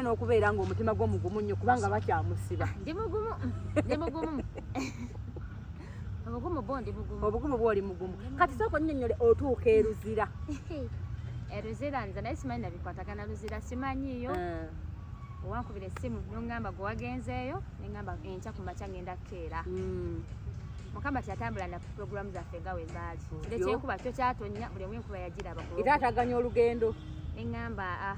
n'okubeera ng'omutima gwo mugumu nnyo kubanga bakyamusiba ndi mugumu ndi mugumu obugumu bwo ndi mugumu obugumu bwo oli mugumu kati sooka onnyonnyole otuuka eruzira eruzira nze naye simanyi nabikwatagana luzira simanyiyo eh. owankubira essimu nongamba gwe wagenzeeyo nengamba enkya ku makya ngenda kukeera hmm. mukama kyatambula na puroguramu zaffe nga wezaali kyekyekuba kyo kyatonya buli omu enkuba yagiraba era ataganya olugendo nengamba ah,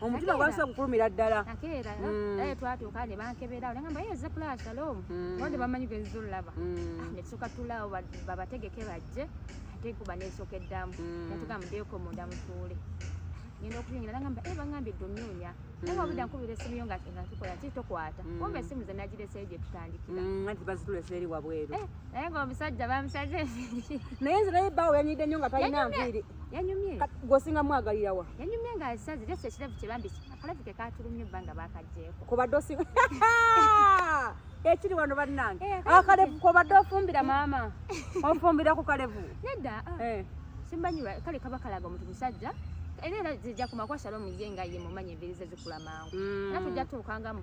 omutima gwasa kukulumira ddala nakeera mm. naye twatuuka ne bankebera olenga mbaye eze pula shalom mm. wonde bamanyi geziza olulaba mm. ah, netuuka tulaawo babategeke bajje ate kuba nesooka eddamu natuga mudeeko munda mutuule ngenda okuyingira nagamba e eh, bangambye edde onoonya naye wabudda nkubira esimu yo nga tukola ki tokwata kumba esimu ze nagireseyo gye tutandikira anti bazitulesa eri wabweru eh, naye ngaomusajja bamusaze naye nze naye bawo yanyidde nnyo nga talina nviiri yanyumye gwosinga mwagalira wa yanyumye nga asaze leso ekirevu kye bambi akalavu ke katulumye banga bakajjeko kubadde osinga ekiri wano bannange eh, akalevu kubadde ofumbira maama ofumbira ku kalevu nedda ah. eh. simbanyi kale kaba kalaga omuntu musajja era era zijja kumakwasala omuye nga ye mumanya emberi ze zikula mangu mm. era tujja tuukangamu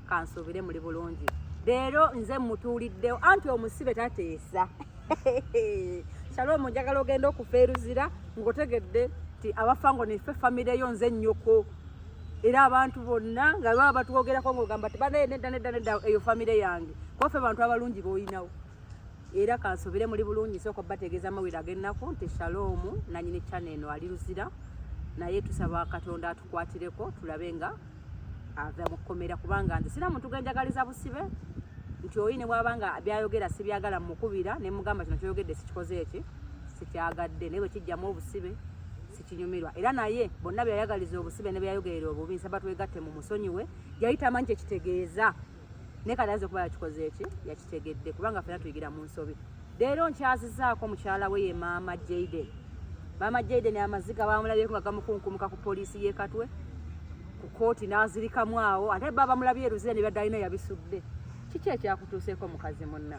kansuubire muli bulungi leero nze mutuuliddewo anti omusibe tateesa shalom njagala ogenda okufa eruzira ngaotegedde ti abafa ngo nife famire yo nze nnyoko era abantu bonna nga baba batwogerako ngaogamba ti banaye nedda nedda nedda eyo famire yange kubafe bantu abalungi boolinawo era kansuubire muli bulungi sooka bategeeza amawire ag'ennaku nti shalom nanyini chane eno ali luzira naye tusaba katonda atukwatireko tulabe nga ave mu kkomera kubanga nze sina muntu genjagaliza busibe nti oyi ne bwaba nga byayogera sibyagala mukubira ne mugamba kino kyoyogedde sikikoze eki sikyagadde naye bwe kijjamu obusibe sikinyumirwa era naye bonna byeyayagaliza obusibe ne byeyayogerera obubi nsaba twegatte mu musonyiwe yali tamanyi kyekitegeeza naye kati aze kuba yakikoze eki yakitegedde kubanga fena tuyigira mu nsobi leero nkyazizaako mukyala we ye maama jaden maama jaden amaziga bamulabyeko nga gamukunkumuka ku poliisi yekatwe ku kooti n'azirikamu awo ate ba bamulabye eruzira ne byadalina yabisudde kiki ekyakutuuseeko mukazi munna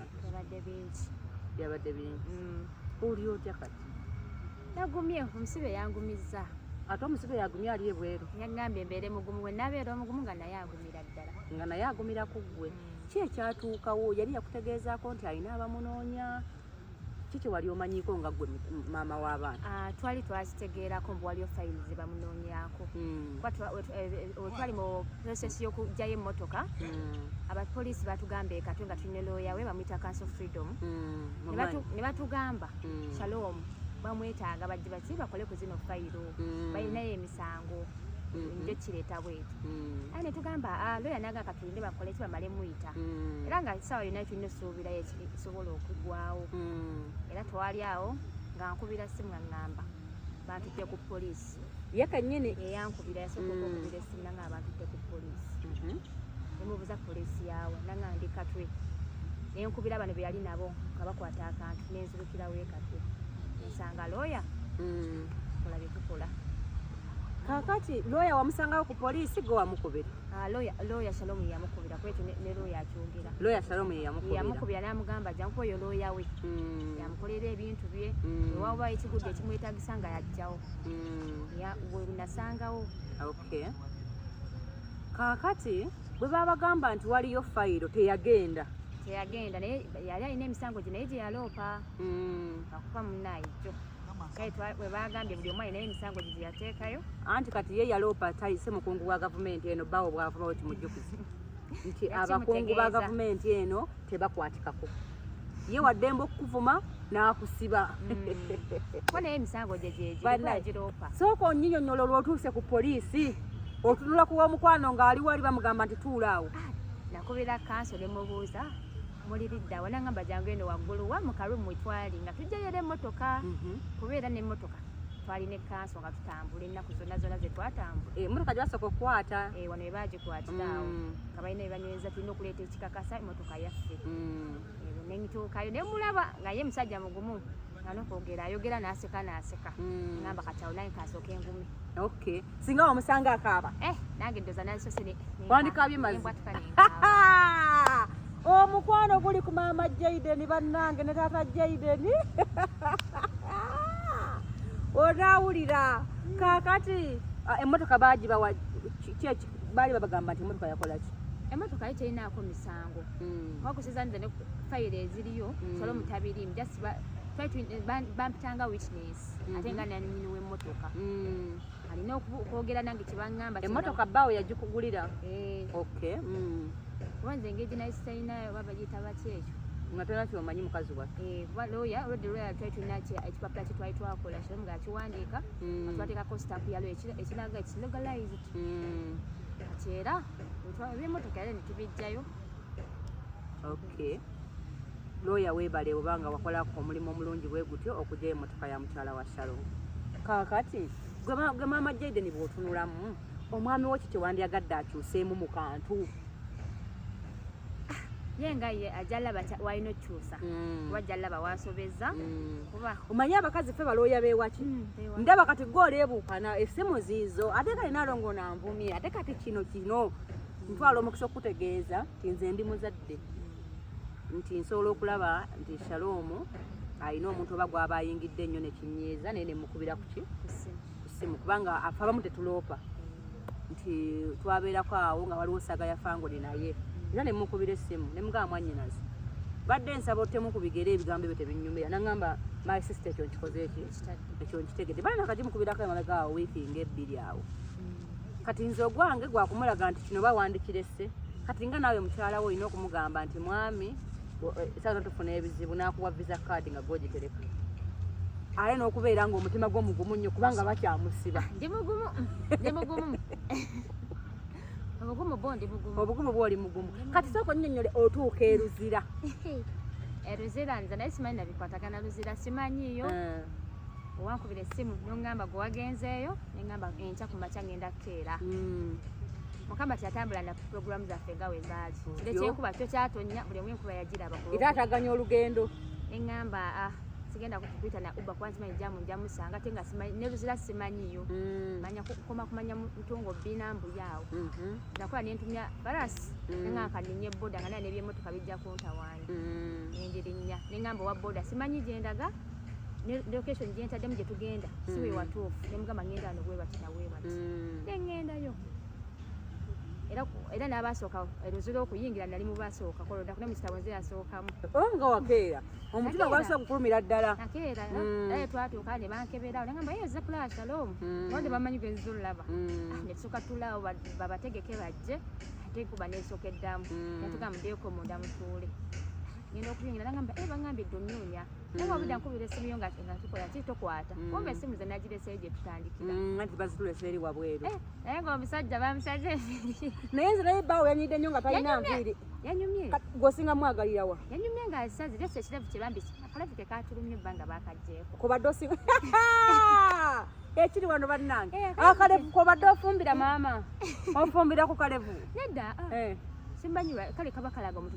byabadde bingi mm. oli otya kati yagumye omusibe yangumizza ate omusibe yagumye ali ebweru yagambye mbeere mugumu we nabeera omugumu nga naye agumye nga naye agumira ku ggwe hmm. ki ekyatuukawo yali yakutegeezaako nti alina abamunoonya ki kyewali omanyiiko nga gwe maama w'abaana ah, twali twakitegeerako mbu waliyo fayili ze bamunoonyaako hmm. wetwali eh, eh, mu process y'okugjayo emmotoka hmm. abapoliisi batugamba ekatwe nga tulina looya we bamuyita council freedom ne batugamba shalom bamwetaaga bajje baki bakole ku zino fayiro mm. balinayo emisango mm-hmm. njo kireeta bweti mm. aye netugamba ah, loya naga katulinde bakole ki bamale muyita mm. era nga sawa yona tulina esuubira esobola okugwawo era twali awo nga nkubira simu aŋŋamba bantute ku poliisi ye kanyini eyankubira yasooka mm. okukubira esimu nanga abantute ku poliisi mm-hmm. nemubuza poliisi yaawe nanga ndi katwe nenkubira bano beyali nabo nga bakwata akantu nenzibu kira wekate nsanga lawyer mm. kola bye tukola kakati lawyer wamusangawo ku poliisi gwe wamukubira ah, lawyer shalom yeyamukubira kwekyo ne lawyer akyogera lawyer shalom yeyamukubira namugamba jankuba oyo lawyer we mm. yamukolera ebintu bye mm. ewawa ekigudde ekimwetagisa nga yajjawo wenasangawo okay kakati bwe babagamba nti waliyo fayiro teyagenda teyagenda naye yali alina emisango gye naye gye yaloopa hmm. akufa munaye kyo kale we baagambye buli omu alinayo emisango gye gye yateekayo anti kati ye yaloopa tayise mukungu wa gavumenti eno bawo bwavuma we kimujjukiza nti abakungu ba gavumenti eno tebakwatikako ye waddemba okukuvuma n'akusiba hmm. ko naye emisango gye gyegiroopa sooka onyinyonyola olwotuuse ku poliisi otunula kuwa omukwano ng'ali wali bamugamba nti tuula awo ah, nakubira kanso ne mubuuza muli liddawa nangamba jangu eno waggulu wa mukalu mwetwali nga tujjayo era emmotoka mhm. kuba era n'emmotoka twalina ekkanso nga tutambula ennaku zonna zonna ze twatambula eh, emmotoka gyebasooka okukwata eh, wano bebagikwatirawo mm. nga balina bebanyweza tulina okuleeta ekikakasa emmotoka yaffe mm. eh, nentuukayo nemulaba nga ye musajja mugumu anokwogera ayogera naseka naseka mm. ngamba kati awo naye kasooka engumi okay singa wamusanga akaaba eh, nange ddoza nazisosewandikabye mazibwatuka omukwano guli ku maama jaiden bannange ne taata jaiden onaawulira kaakati ah, emmotoka baagibawa kyeki baali babagamba nti emotoka yakolaki emotoka ye terinaako misango mm. wakusizaniza ne fayiro eziriyo mm. solo mutabirimu just bampitanga witness mm-hmm. ate nga nanyini wemotoka mm. alina okwogera nange kyebaŋamba emotoka baawo yagikugulira eh. okay kuba nze engeri ginaisitainayo oba bagiyita baki ekyo nga tolina kyomanyi mukazi waffe eh, kuba looya olwedde looya twali tulina ekipapula kyetwali twakola kiro nga akiwandiika nga twateekako sitapu yalo ekiraga ekilogalize hmm, kati era ebyemotoka era netubijjayo okay looya webale oba nga wakolako omulimu omulungi bwe gutyo okugyayo emotoka ya mukyala wa shalom kakati gwe maama jaden bwotunulamu omwami wo ki kyewandyagadde akyuseemu mu kantu yenga ye ajalaba walina okyusa mm. kuba jalaba wasobeza mm. kuba omanyi abakazi fe balooya bewaki mm, ndaba kati gwe oleebuukana esimu ziizo ate kati nalongo nanvumye ate kati kino kino ntwala omukisa okukutegeeza nti nze ndi muzadde nti nsobola okulaba nti shaloomu alina omuntu oba gwaba ayingidde ennyo nekinyiiza naye nemukubira kuki kusimu kubanga abamu tetuloopa nti twabeerako awo nga waliwo saga yafangole naye era nemukubira essimu nemugamba mwanyinazi badde nsaba otemu ku bigere ebigambo ebyo tebinyumira nangamba my sister ekyo nkikoze ekyo ekyo nkitegedde bana kati mukubirako emabega awo wiiki nga ebbiri awo mm. kati nze ogwange gwakumulaga nti kino bawandikirese kati nga naawe mukyalawo olina okumugamba nti mwami saza tufuna ebizibu nakuwa visa card nga gwogitereka aye n'okubeera nga omutima gwo mugumu nnyo kubanga bakyamusiba ndi mugumu ndi mugumu obugumu bwo ndi mugumu obugumu bwo oli mugumu kati sooka onnyonnyole otuuka eruzira eruzira nze naye simanyi nabikwatagana luzira simanyiyo eh. owankubira essimu nongamba gwe wagenzeeyo nengamba enkya ku makya ngenda kukeera hmm. mukama kyatambula na puroguramu zaffe nga wembaali kire kyenkuba kyo kyatonya buli omu enkuba yagiraba era ataganya olugendo eŋŋamba ah, sigenda kukuyita na uba kuba nsimanyi jamu njamusanga ate nga neruzira simanyiyo mm. manya kukoma kumanya mutungo bina mbuyaawo mm-hmm. nakola nentumya barasi mm. neŋanka ninye boda nga naye nebyemotoka bijja kuntawani mm. nengirinya neŋamba owa boda simanyi gyendaga location gyentaddemu gyetugenda siwewatuufu nemugamba ngenda ano bwebati nawebati nengendayo era n'abaasooka erozi lw'okuyingira nali mu baasooka kolodako ne musita wenze yasookamu oh, nga wakeera omutima gwasa kukulumira ddala nakeera mm. naye twatuuka ne bankeberawo nagamba ye oze kulaba shalom mm. nonde bamanyi gwenziza olulaba mm. ah, netusuka tulawo babategeke bajje ate kuba nesooka eddamu natugamba mudeyoko munda mutuule ngenda okuyingira nagamba e eh, bangambye dde onyuunya naye wabudde nkubira esimu yo nga tukola ki tokwata mm. kumba esimu ze nagireseyo gye tutandikira mm, anti bazitulesa eri wabweru eh, naye nga omusajja bamusaze enviiri naye nze naye baawo yanyidde nnyo nga talina nviiri yanyumye gwosinga mwagalira wa yanyumye nga asazi leso ekirevu kye bambi akalavu ke katulumye bba nga bakaggyeko kubadde osinga ekiri wano bannange eh, akalevu kobadde ofumbira maama ofumbira ku kalevu nedda ah. eh. simbanyiwa kale kaba kalaga omuntu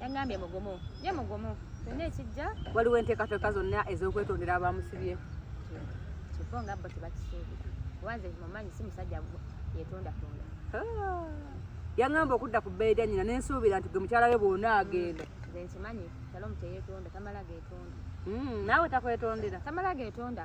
yangambye mugumu ye mugumu kyonna ekijja waliwo enteekateeka zonna ez'okwetondera abamusibye kyokka nga bo tebakisuubira kubanze mumanyi si musajja yetondatonda ah. yangamba okudda ku bbeeyi lya nyina nensuubira nti gwe mukyala we bwona agenda nze nkimanyi kyalo omuteyetonda tamala getonda hmm, naawe takwetondera tamala getonda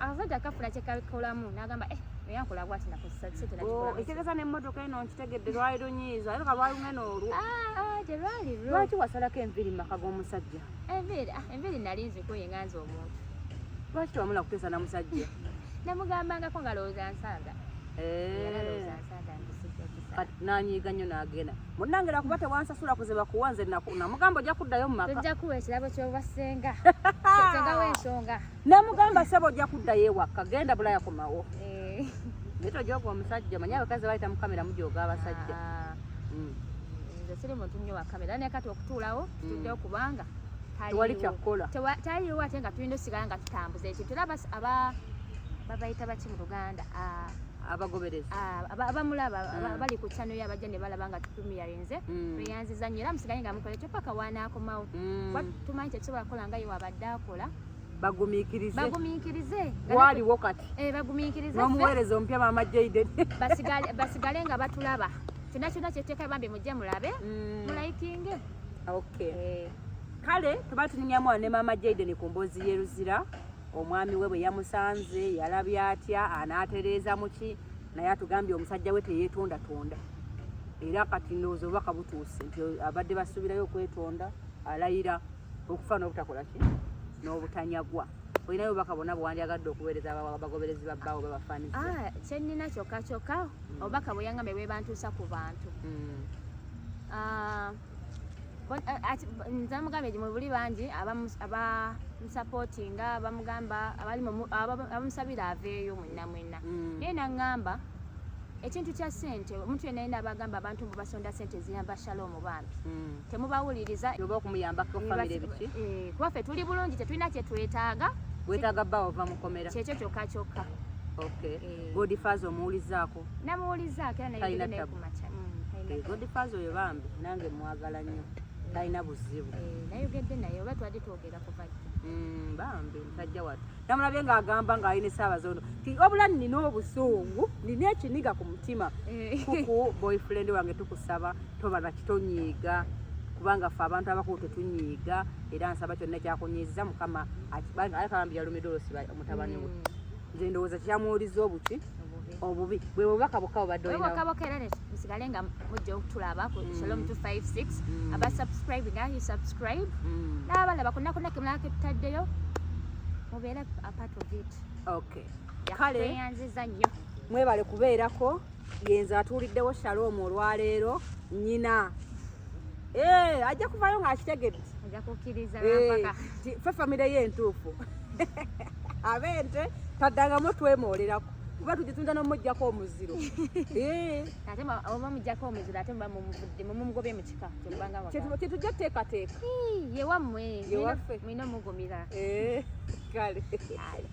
akasajja akafuna kyekakolamu nagamba eh, eyankola bwati nakosesakisetenaekitegeeza oh, nemmotoka eno nkitegedde lwali lunyiiza era kalwali lunene olwo ah, ah, terwali lwo lwaki wasalako enviri mumaka g'omusajja enviri ah, enviri nali nzikuye nga nze omuntu lwaki tewamula kuteesa na musajja namugambangako nga lowooza nsaaga eh. era lowooza nsaaga nge nanyiiga nnyo nagenda munange nakuba tewansasula kuziba kuwa nze namugambo ojja kuddayo mumaka ojja kuwa ekirabo kyobassenga senga wensonga Namugamba sebo ojja kuddayo ewaka genda bulaya komawo. Eh. Naye tojooga omusajja manya abakazi bayita mu kamera mujooga abasajja. Ah. Mm. Nze siri muntu nnyo wa kamera naye kati okutuulawo mm. tutuddewo kubanga tewali kyakukola taliwo ate nga tulina osigala nga tutambuza ekintu era aba babayita baki mu luganda ah. abagoberezi ah, abamulaba mm. bali ku channel yabajja ne balaba nga tutumiyarinze mm. tweyanziza nnyo era musigaye nga mukola ekyo paka wanaakomawo mm. tumanyi tekisobola kukola nga ye wabadde akola bagumiikirize bagumiikirize waaliwo kati eh, bagumiikirize n'omuweereza omupya maama jaiden basigale nga batulaba kyonna kyonna kyeteeka bambi mujje mulabe mm. mulayikinge okay eh. kale tuba tuninyamu ne maama jaiden ku mboozi yeruzira omwami we bwe yamusanze yalabye atya anaatereeza muki naye atugambye omusajja we teyeetondatonda era kati ndowooza obubaka butuuse nti abadde basuubirayo okwetonda alayira okufa n'obutakola ki n'obutanyagwa olinayo obubaka bwonna bwewandyagadde okuweereza abagoberezi babbaawo babafaanize ah, kyennina kyokka kyokka hmm. obubaka bweyangambe bwebantuusa ku bantu hmm. ah, eh, nza mugambye gi mubuli bangi abamusapootinga abamugamba abamusabira aveeyo mwenna mwenna hmm. naye naŋŋamba ekintu kya sente omuntu yena yena abagamba abantu mbu basonda sente ziyamba shaloomu bambi hmm. temubawuliriza oba okumuyambako famire biki eh, kuba ffe tuli bulungi tetulina kyetwetaaga wetaaga bba ova mukomera kyekyo kyokka kyokka eh. godfaz omuwulizaako namuwulizaako era nayekumaca hmm, eh, godfaz oyo bambi nange mwagala nnyo talina buzibu nayogedde naye oba twali twogera kuva hmm, bambi musajja watu namulabye ng'agamba ng'ali ne saabazondo ti wabula nina obusungu nina ekiniga ku mutima eh. kuku boyfriend wange tukusaba toba nakitonyiiga kubanga fe abantu abakulu tetunyiiga era nsaba kyonna kyakunyiiza mukama aleka bambi yalumidde olusiba mutabani we mm. nze ndowooza kyamuwuliza obuki obubi bwe bubaka bokka bubadde olina bokka bokka era musigale nga mujja okutulaba ku mm. shalom 256 mm. aba subscribe nga you subscribe mm. n'abala bakunakuna ke mulaka tutaddeyo mubeere a part of it okay kale yanziza nnyo mwebale kubeerako yenze atuuliddewo shalom olwaleero nyina eh, ajja kuvayo ng'akitegedde ojja kukkiriza eh, fe famire ye entuufu abente taddangamu twemoolerako kuba tugitunda nomujjako omuziro eh. ate oba mujjako omuziro ate muba mumuvudde mumugobye mu kika kyetujja teekateeka yewammwe mulina omugumira eh, kale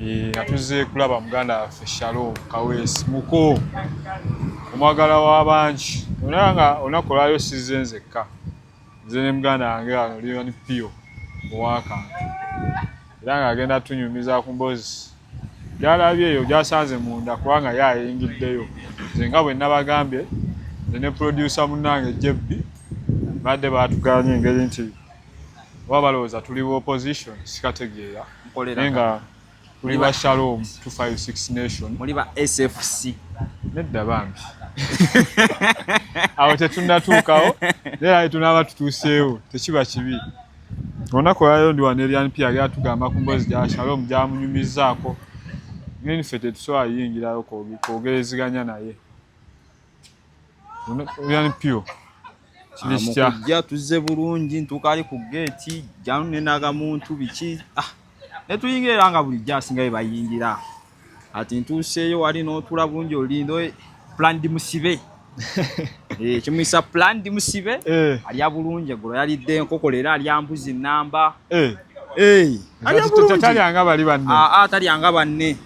Eh, nga tuzze kulaba muganda waffe shalom kaweesi muko omwagala w'abangi ona nga olunaku olwayo sizze nzekka nze ne muganda wange wano lion pio owakantu era ng'agenda tunyumiza ku mbozi gyalabye eyo gyasanze munda kubanga ye ayingiddeyo nze nga bwe nabagambye nze ne pulodyusa munnange jebbi badde baatuganya engeri nti oba balowooza tuli wa opposition sikategeera naye nga tuli ba shalom 256 nation muli ba sfc nedda bambi awo tetunatuukawo naye tunaaba tutuuseewo tekiba kibi olunaku olwaliro ndi wano erian pia yali atugamba ku mbozi gya shalom gyamunyumizaako naye niffe tetusobola yingirayo kwogereziganya naye yani pure ah, kujja tuzze bulungi ntukaali ku geeti janu nenaga muntu biki ah, netuyingira era nga bulijjo asinga bye bayingira ati ntuuseeyo wali n'otula bungi olindo eh, plandi musibe eh, kimuyisa plandi musibe eh. alya bulungi eggulo yalidde enkoko leero alya mbuzi namba talyanga bali banne ah, talyanga banne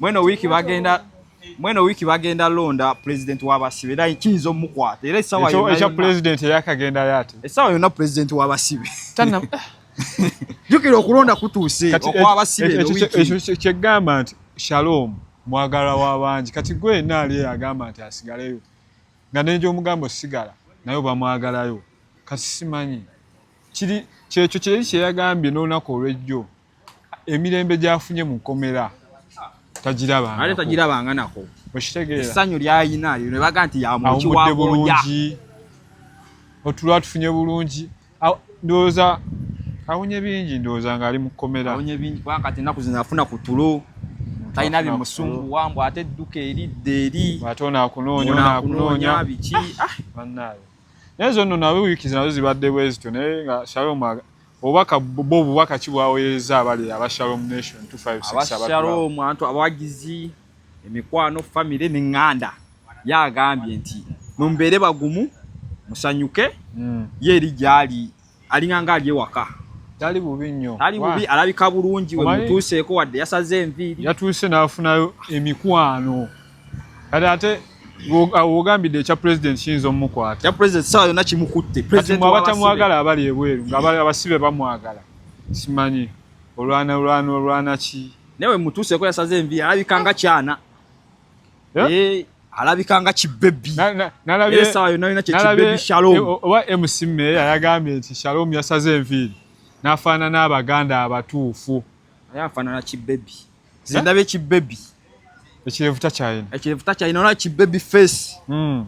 mweno wiiki bagenda mweno wiiki bagenda londa pulezidenti w'abasibe era kiyinza omukwata era essaawa yonna ekya pulezidenti eyakagendayo ate essaawa yonna pulezidenti w'abasibe jjukira okulonda kutuuse okw'abasibe ekyo kyegamba nti shalom mwagala w'abangi kati gwe yenna ali agamba nti asigaleyo nga nenja omugambo sigala naye obamwagalayo kati simanyi kiri kyekyo kyeri kyeyagambye n'olunaku olw'ejjo emirembe gyafunye mu kkomera tagirabanga tagirabanga nako okitegeera essanyu lyayina lyo ne baga nti yamukiwawudde bulungi otulwa tufunye bulungi ndowooza awunye bingi ndowooza ng'ali mu kkomera awunye bingi kubanga kati ennaku zino afuna ku tulo talina bimusumbuwa mbu ate edduka eridde eri ate onaakunoonya onaakunoonya biki ah! bannaayo naye zonno nawe wiikizi nazo zibadde bwezityo naye nga shalom obubaka bo obubaka ki bwaweereza abali aba shalom nation 256 antu abawagizi emikwano famire neŋŋanda yagambye nti mumbeere bagumu musanyuke hmm. ye eri gyali alinganga ali ewaka tali bubi nnyo tali bubi alabika bulungi we mutuuseeko wadde yasaze enviiri yatuuse n'afunayo emikwano kati ate wogambidde ekya president kiyinza omukwata ekya president sawa yonna kimukutte president abatamwagala abali ebweru nga abasibe bamwagala simanyi olwana olwana olwana ki naye we mutuuseeko yasaze enviiri alabika nga kyana yeah? hey. Eh, alabika nga kibebi esawa yonna yona kyekibebi shalom eh, oba mc meeya yagambye nti shalom yasaze enviiri n'afaanana abaganda abatuufu naye afaanana kibebi zindaba ekibebi ekirevu takyayina ekirevu takyayina olaba kibebi face hmm.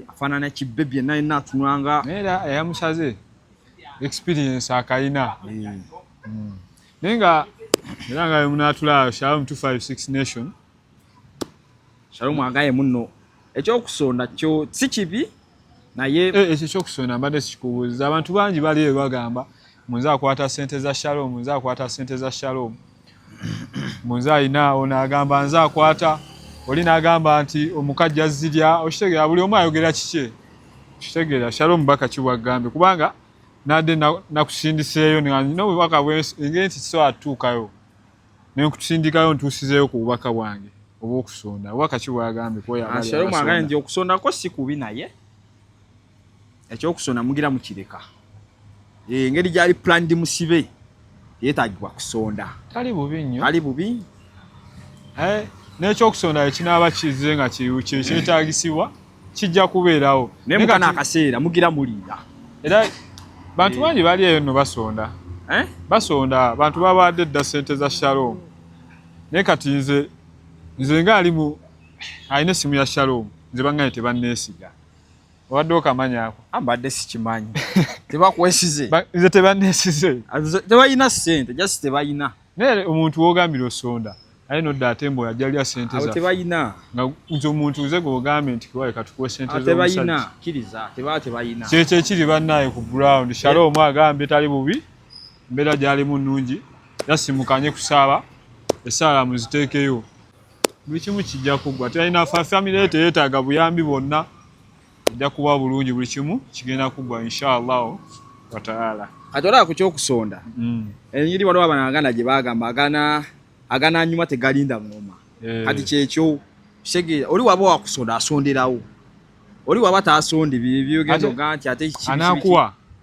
afaanana kibbebi yenna yenna atunwanga naye era eyamusaze experience akalina hmm. Hmm. naye nga era nga wemunaatulaayo shalom 256 nation shalom agaye munno ekyokusonda kyo si kibi naye eh, ekyo ekyokusonda mbadde sikikubuuza abantu bangi bali ebagamba munze akwata sente za shalom nze akwata sente za shalom munze alina ono agamba nze akwata oli nagamba nti omukajja zirya okitegera buli omu ayogera kikye kitegeera shalom baka kibwagambye kubanga nadde nakusindiseeyo nina obubaka engeri nti so atuukayo nenkutusindikayo ntuusizeeyo ku bubaka bwange obwokusonda obubaka kibwagambye kwoyaokusondako si kubi naye ekyokusona mugira mukireka engeri gyali planned musibe yetagibwa kusonda tali bubi nnyo tali bubi eh, n'ekyokusonda ekinaaba kize nga kyetagisibwa kijja kubeerawo naye mukana akaseera mugira muliira era bantu eh. bangi bali eyo no basonda eh? basonda bantu babaadde dda sente za shalom naye kati nze nze ngaali mu alina essimu ya shalom nze bangaye tebanneesiga obadde okamanyi ako ah, mbadde sikimanyi tebakwesize nze tebanesize ah, tebalina sente just tebalina naye omuntu wogambira osonda aye nodda ate mbu ajalya sente za tebalina nga nze omuntu nze gwogambye nti kiwaye katukuwe sente ah, tebalina kiriza tebaa tebalina kyekyo ekiri bannaye ku ground shale omu agambye tali bubi mbeera gyalimu nnungi yasimukanye kusaaba esaala muziteekeyo buli kimu kijja kuggwa tulina famire ye teyeetaaga buyambi bwonna ejja kuba bulungi buli kimu kigenda kuggwa inshaallahu wataala kati olaba ku kyokusonda mm. enyiri waliwo abana aganda gye bagamba agana agana anyuma tegalinda ngoma eh. kati kyekyo kitegeera oli waba wakusonda asonderawo oli waba tasonde byebyogendoga nti ate anakuwa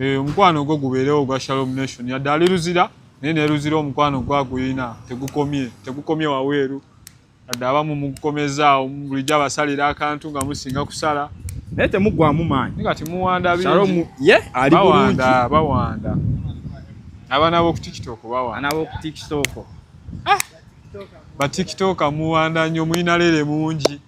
Eh, omukwano ogwo gubeerewo ogwa shalom nation yadde ali luzira naye neluzira omukwano gwaguyina tegukomye tegukomye waweeru yadde abamu mugukomezaawo bulijjo abasalira akantu nga musinga kusala naye temuggwamu maanyi nga temuwanda ye ali bawanda bawanda abaana bokutiktok bawana bokutiktok ah! batiktok muwanda nyo muyina lere mungi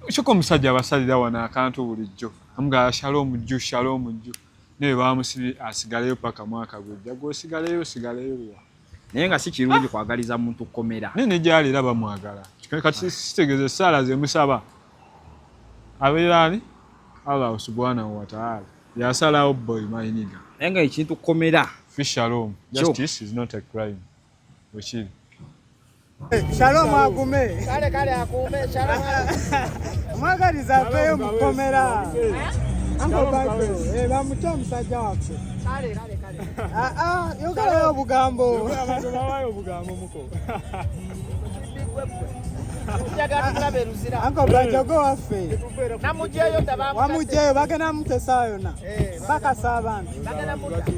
kyoka omusajja abasalira wano akantu bulijjo amugala shalom jju shalom jju naye bamusibye asigaleyo paka mwaka gwejja gwosigaleyo osigaleyo wa naye nga si kirungi kwagaliza muntu kukomera naye ne gyali era bamwagala kati sitegeza esaala zemusaba abeera ani allah subhanahu wataala yasalawo boy mayiniga naye nga ekintu kukomera fishalom justice is not a crime Wekiri. Eh, Shalom agume. Kale kale akume Shalom. Mwagaliza aveyo mu kkomera. Ango Bible. Eh bamuta omusajja waffe. Kale kale kale. Ah ah yogalayo obugambo. Yogala abantu bawayo obugambo muko. anko bwajogo waffe wamujeyo bagenda mutesaayo na eh. bakasa abantu bagenda mutta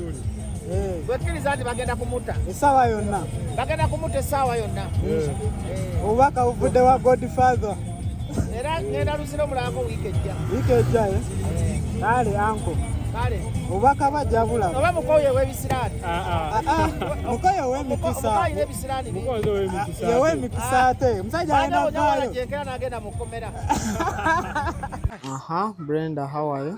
eh. bwekkiriza nti bagenda kumutta essaawa yonna bagenda kumutta essaawa yonna eh. Eh. obubaka buvudde wa godfather era ngenda luzira omulangako wiiki ejja wiiki ejja kale anko obubaka bajabula oba mukoyo owebisiraani ah, ah. ah, mukoyo owemikisa yewemikisa ate omusajja alina vaayo aha brenda how are you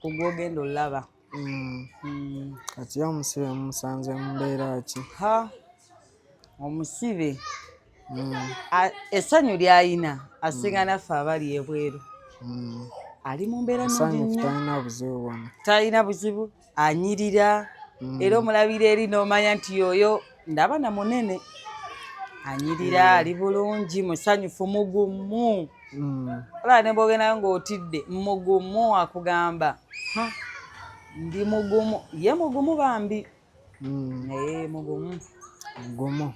ku gw'ogenda olaba mm. mm. kati ye omusibe mumusanze mumbeera ki ha omusibe mm. essanyu lyayina asinga mm. naffe abali ebweru mm. ali mu mbeera nnyingitalina buzibu bwona talina buzibu anyirira mm. era omulabira eri n'omanya nti yoyo ndaba na munene anyirira mm. ali bulungi musanyufu mugumu mm. olaba ne bwogendayo ng'otidde mugumu akugamba ndi mugumu ye mugumu bambi mm. naye mugumu mugumu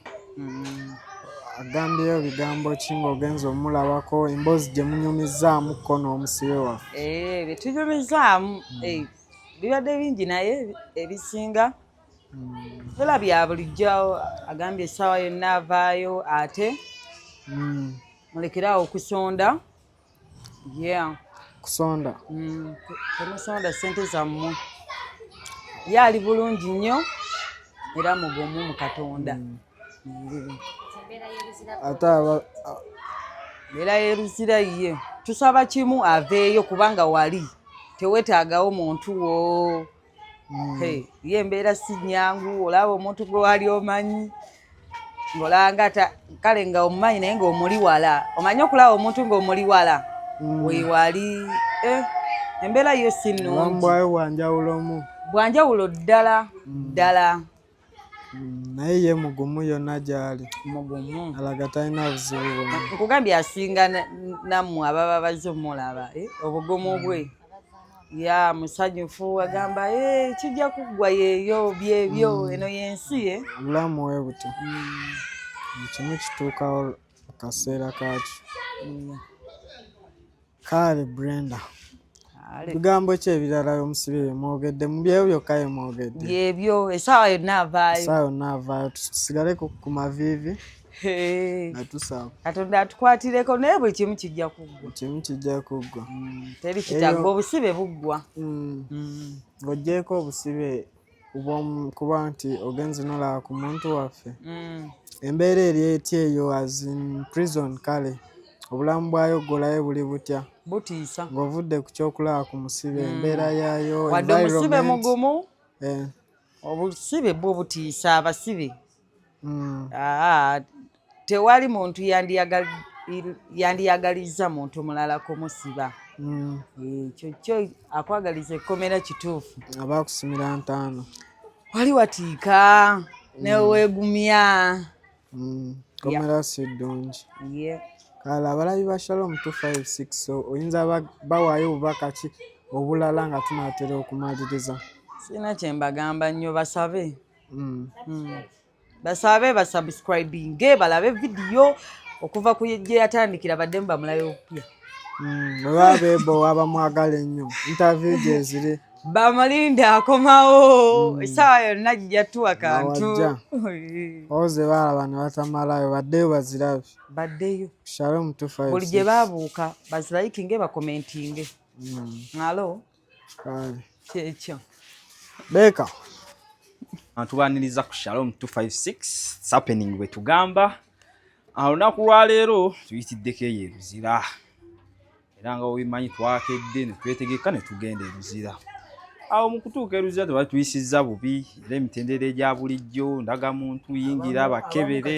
agambyeyo bigambo ki ng'ogenza omulabako emboozi gye munyumizzaamu kko n'omusibe waffe eh, bye tunyumizzaamu eh, bibadde bingi naye ebisinga tola bya bulijjo agambye essaawa yonna avaayo ate mm. mulekeraawo okusonda yeah kusonda mm. temusonda sente zammwe ye ali bulungi nnyo era mugumu mu katonda mm. ate era yeruzira ye tusaba kimu aveeyo kubanga wali tewetaagawo muntu wo mm. hey, ye embeera si nyangu olaba omuntu gwe wali omanyi ngolanga ta kale nga omumanyi naye ngaomuli wala omanyi okulaba omuntu ngaomuli wala mm. wewali eh, embeera yo si nungi bwanjawulo ddala mm. ddala naye ye mugumu yonna gyali mugumu alaga talina buzibu bwona nkugambye asinga nammwe ababa bazze omulaba eh, obugumu bwe mm. ya musanyufu agamba eh, kijja kuggwa yeeyo byebyo mm. eno yensi ye eh. obulamu we butyo mm. kimu kituukawo kaseera kakyo Kale Brenda. Bigambo ki ebirala omusibe bye mwogedde mu byeyo byokka bye mwogedde? Byebyo essaawa yonna avaayo. Essaawa yonna avaayo tusigale ku maviivi nga tusaba. Katonda atukwatireko naye buli kimu kijja kuggwa. Kimu kijja kuggwa. Mm, teri kitagga obusibe buggwa. Mm. Mm. Ng'oggyeeko obusibe kuba nti ogenze nolaba ku muntu waffe mm. embeera eri etya eyo as in prison kale obulamu bwayo golayo buli butya butiisa ng'ovudde ku kyokulaba ku musibe mm. embeera yayo wadde omusibe mugumu eh. obusibe bwo butiisa abasibe mm. ah, tewali muntu yandiyagalizza muntu mulala kumusiba mm. eh, ekyo kyo akwagaliza ekkomera kituufu abakusimira ntaano wali watiika mm. newegumya komera si ddungi kale abalabi ba shalom 256 so oyinza bawaayo obubaka ki obulala nga tunaatera okumaliriza sirina kyembagamba nnyo basabe mm. mm. basabe basubscribinge balabe vidiyo okuva ku gye yatandikira baddemu bamulayo opya mm, oba bebo waba mwagala ennyo interview gyeziri bamalinde akomawo mm. esaawa yonna gijatuwa kantu oze balaba ne batamalayo baddeyo bazirabe baddeyo shalom tufa buli gye babuuka bazirayikinge bakomentinge mm. alo mm. kyekyo beeka tubaniriza ku shalom 256 happening bwe tugamba olunaku lwaleero tuyitiddeko eyo eruzira era nga obimanyi twakedde netwetegeka netugenda eruzira awo mu kutuuka eruzira tebali tuyisizza bubi era emitendera egya bulijjo ndaga muntu yingira bakebere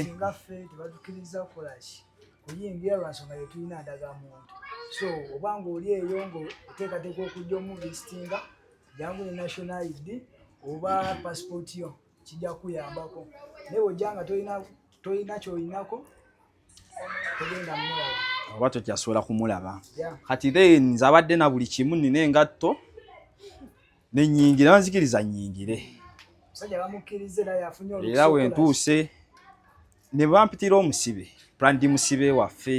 kuyingira lwansonga yetulina ndaga muntu so oba ngaoli eyo nga oteekateeka okujja omuvisitinga jangu ne national id oba passport yo kijja kuyambako naye ojja nga tolina kyolinako togenda mulaba oba tokyasobola kumulaba kati then nze abadde na buli kimu nina engatto nenyingire banzikiriza nyingire era wentuuse ne bampitira omusibe prandi musibe waffe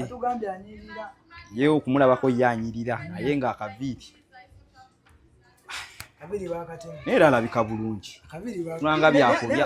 ye okumulabako ye anyirira naye nga akaviiri naye era alabika bulungi tulanga byakulya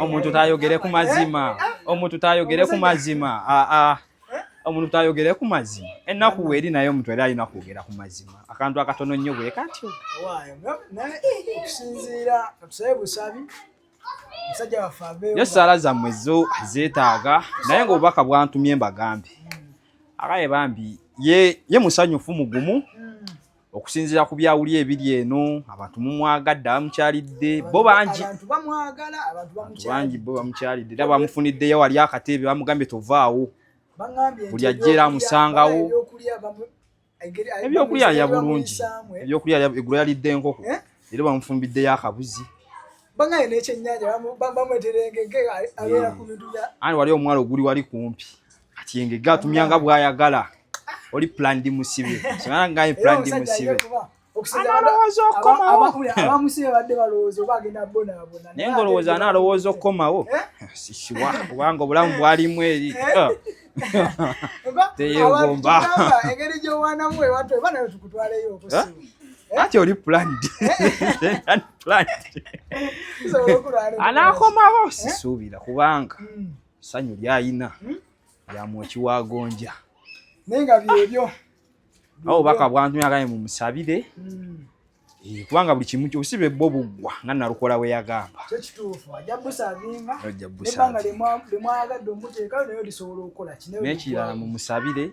omuntu tayogere ku mazima eh, eh. omuntu tayogere ku mazima ah, ah. eh? omuntu tayogere ku mazima ennaku weeri naye omuntu era alina kwogera ku mazima akantu akatono nnyo bwe katyo yo sala zammwe zo zeetaaga naye ngaobubaka bwantumye mbagambe akaye bambi ye musanyufu mugumu okusinzira ku byawuli ebiri eno abantu mumwagadde abamukyalidde bo bangi bangi bo bamukyalidde era bamufuniddeyo wali akateebe bamugambye tovaawo buli ajja era amusangawo ebyokulya alya bulungi ebyokulya egula yalidde enkoko eh? era bamufumbiddeyo akabuzi bangaye nekyenyanja bamweterengege abeera ku bintu bya ani wali omwalo oguli wali kumpi kati yengege atumya nga bwayagala oli plandi musibe soanangaye plandi musibe naye ngaolowooza ana alowooza okukomawo eh? sikiwa kubanga obulamu bwalimu eri eh? eh. teyegomba ati oli planned anakomawo sisuubira kubanga hmm. sanyu lyayina hmm? lyamwoki wagonja naye nga byebyo awo baka bwantu yagaye mumusabire hmm. eh, kubanga buli kimu obusibe bwo buggwa nga nalukola we yagamba nekirala mumusabire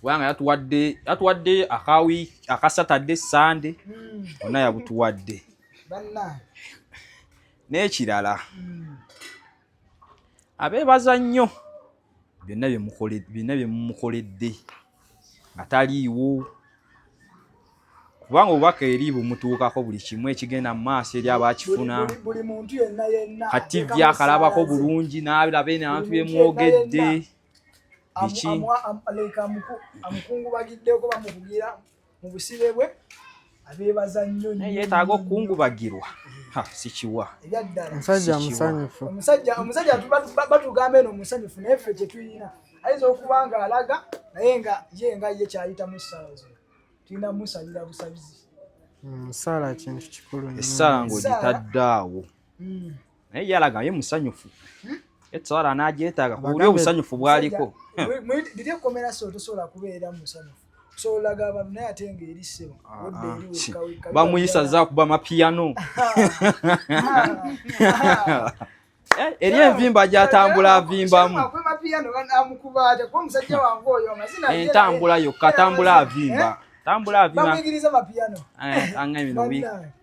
kubanga yatuwadde yatuwadde akawi akasatadde sande hmm. ona yabutuwadde n'ekirala hmm. abeebaza nnyo byonna byonna bye mumukoledde nga taliiwo kubanga obubaka eri bumutuukako buli kimu ekigenda mu maaso eri abakifuna kati vyakalabako bulungi n'alaba eno abantu bemwogedde biki amuleka amukungubagiddeko bamukugira mu busibe bwe abeebaza nnyo naye yeetaaga okukungubagirwa sikiwa omusajja musanyufu omusajja batugamba eno musanyufu naye ffe kyetulina ayinza okuba nga alaga naye nga ye nga ye kyayita mu ssala zo tulina musalira busabizi musaala mm, kintu kikulu essaala ng'ogitadde awo mm. naye yalaga ye musanyufu hmm? etwala n'agyetaaga ku buli obusanyufu bwaliko biri ekkomera so tosobola kubeera musanyufu solaga abantu naye ate nga eri ssebo ah, odda ah, eri wekka bamuyisa za kuba mapiyano Eh, eri envimba gyatambula avimbamu entambula yokka tambula avimba tambula avimba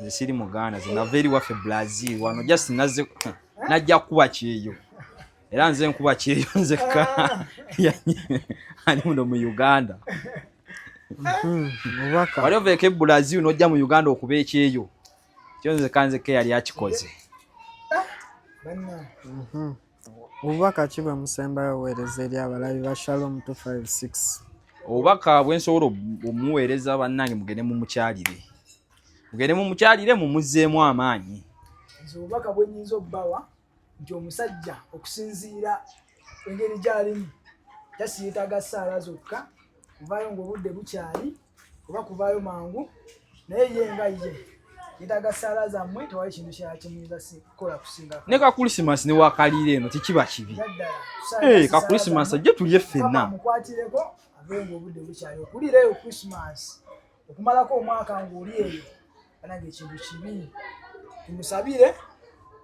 nze siri muganda zinava eri waffe brazil wano just naze najja kukuba kyeyo era nze nkuba kyeyo nzekka ali muno mu uganda wali oveeko ebrazil nojja mu uganda okuba ekyeyo kyo nzeka nzekka yali akikoze ah, Obubaka ki bwe musembayo oweereza eri abalabi ba Shalom 256? Obubaka bwe nsobola omuweereza bannange mugende mu mukyalire. Mugende mu mukyalire mumuzzeemu amaanyi. Nze obubaka bwe nnyinza obbawa nti omusajja okusinziira engeri gy'alimu tasi yeetaaga ssaala zokka kuvaayo ng'obudde bukyali. kuba kuvaayo mangu naye ye nga ye yetaaga ssaala zammwe tewali kintu kyala kimuyinza kukola kusinga ne ka kulisimansi ne wakaliira eno tekiba kibi eh, ka kulisimansi ajje tulye ffenna mukwatireko avenga obudde bukyali okuliira eyo kulisimansi okumalako omwaka ng'oli eyo banange ekintu kibi tumusabire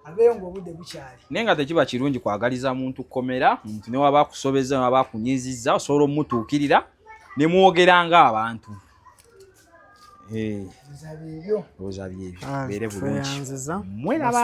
abeeyo ngaobudde bukyali naye nga tekiba kirungi kwagaliza muntu kukomera muntu newaba akusobeza newaba akunyiziza osobola omutuukirira nemwogera nga abantu oza byebyo beere bulungi mweraba